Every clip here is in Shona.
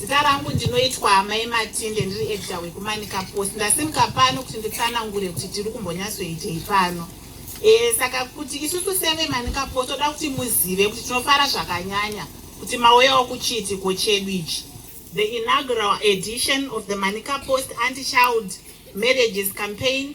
Zita rangu ndinoitwa Amai Matinde ndiri editor wekumanika post. Ndasimuka pano kuti nditsanangure kuti tiri kumbonyatsoitei pano. E, saka kuti isusu seve manika post toda kuti muzive kuti tinofara zvakanyanya kuti mauyawo kuchiitiko chedu ichi. The inaugural edition of the Manika Post Anti-Child Marriages Campaign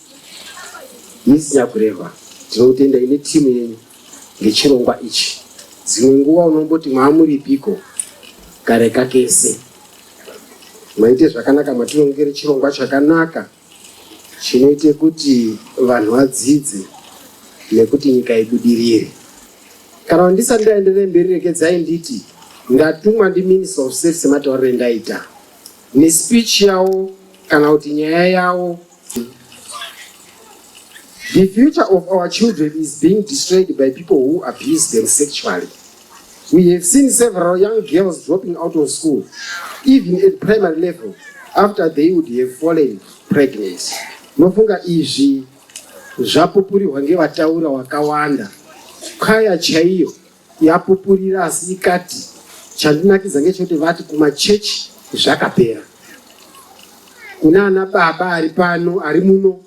Miss Nyakureva, tinotenda ine team yenyu ngechirongwa ichi. Dzimwe nguva unomboti maamuripiko kareka kese. Maite zvakanaka matirongere chirongwa chakanaka chinoite kuti vanhu vadzidze nekuti nyika ibudirire. Kana ndisati ndaenderere mberi regedzai nditi ndatumwa ndiMinister of State sematauriro endaita. nespeech yawo kana kuti nyaya yawo the future of our children is being destroyed by people who abuse them sexually we have seen several young girls dropping out of school even at primary level after they would have fallen pregnant nofunga izvi zvapupurirwa ngevataura wakawanda kaya chaiyo yapupurira asi ikati chandinakidza ngechekuti vati kumachechi zvakapera kuna ana baba ari pano ari muno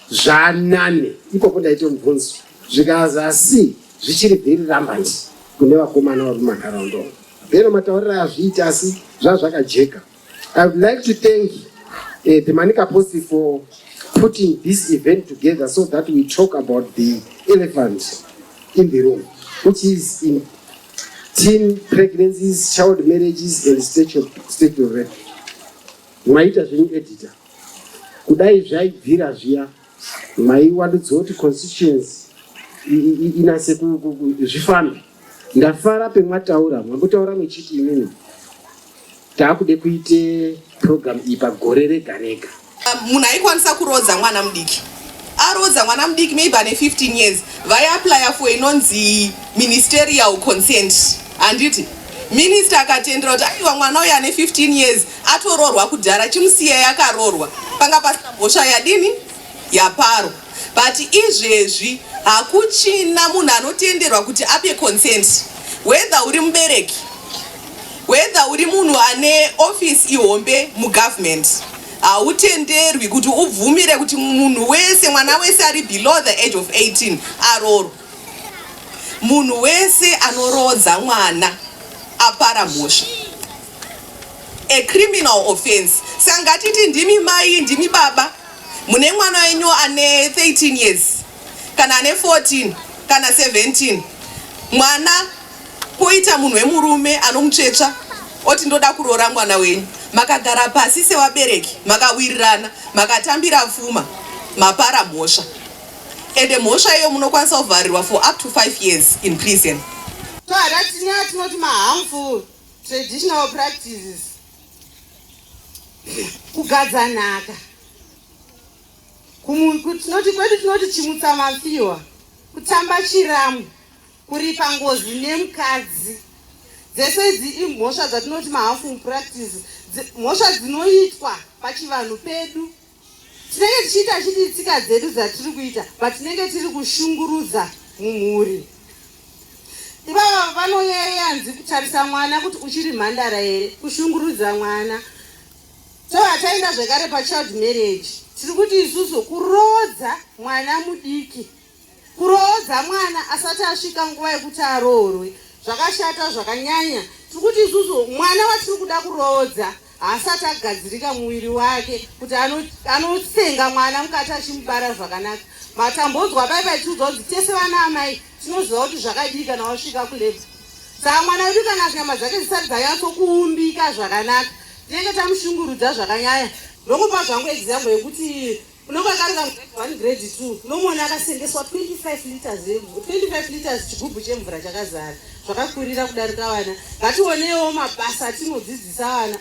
zvanane ikoko ndaite mubvunzo zvikaza asi zvichiri very rambant kune vakomana vari mumanharaunda umo bhero mataurira azviita asi zvazvakajeka I would like to thank uh, the Manica Posse for putting this event together so that we talk about the elephant in the room, which is in teen pregnancies, child marriages, and state of, state of rape. Maita zvenyu editor. Kudai zvaibvira zviya, maiwandudzoti constituency inase zvifambe. Ndafara pemwataura mwakutaura muchiti imimi taakude kuite program iyi pagore rega rega. Munhu aikwanisa kurodza mwana mudiki arodza mwana mudiki maybe ane 15 years vaiaplya for inonzi ministerial consent handiti minista akatendera kuti aiwa mwana uyo ane 15 years atororwa kudhara chimusiyai akarorwa panga pasina mhosva yadini yaparo but izvezvi hakuchina munhu anotenderwa kuti ape consent whether uri mubereki whether uri munhu ane office ihombe mugovernment hautenderwi kuti ubvumire kuti munhu wese mwana wese ari below the age of 18 aroorwa munhu wese anoroodza mwana apara mhosva a criminal offense sangatiti ndimi mai ndimi baba mune mwana wenyu ane 13 years kana ane 14 kana 17 mwana poita munhu wemurume anomutsvetsva oti ndoda kuroora mwana wenyu makagara pasi sevabereki makawirirana makatambira pfuma mapara mhosva ende mhosva iyo munokwanisa kuvharirwa for up to 5 years in prison so hata tinyaya tinoti maharmful traditional practices kugadza nhaka tinoti kwedu tinoti chimutsa mafiwa kutamba chiramu kuripa ngozi nemukadzi dzese idzi imhosva dzatinoti mahafu mupractice mhosva dzinoitwa pachivanhu pedu tinenge tichiita chidii tsika dzedu dzatiri kuita but tinenge tiri kushungurudza mumhuri ivava vanoyeyanzi kutarisa mwana kuti uchiri mhandara here kushungurudza mwana so hataenda zvekare pachild marriage tiri kuti isusu kuroodza mwana mudiki Kuroodza mwana asati asvika nguva yekuti aroorwe zvakashata zvakanyanya. Tiri kuti isusu mwana watiri kuda kuroodza haasati agadzirika muviri wake kuti anosenga mwana mukati achimubara zvakanaka. Matambodzwa pai paitiudzwa kuti tese vana amai tinoziva kuti zvakadii kana wasvika kulebha. Saka mwana wedu kana nyama dzake dzisati dzanyatso kuumbika zvakanaka tinenge tamushungurudza zvakanyanya ndokupa zvangu example yekuti unenge akarira grade one grade two unomuona akasengeswa 25 liters 25 liters chigubhu chemvura chakazara zvakakurira kudarika vana ngationewo mabasa atinodzidzisa vana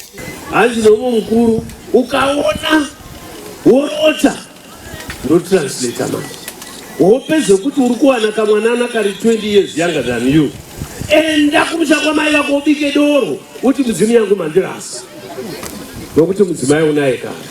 hanzi nomwe mukuru ukaona worota ndotranslata manje hope zvekuti uri kuwana kamwanana kari 20 years younger than you enda kumusha kwamai vako ubike doro uti mudzimu yangu mandirasa nokuti mudzimai unaye kana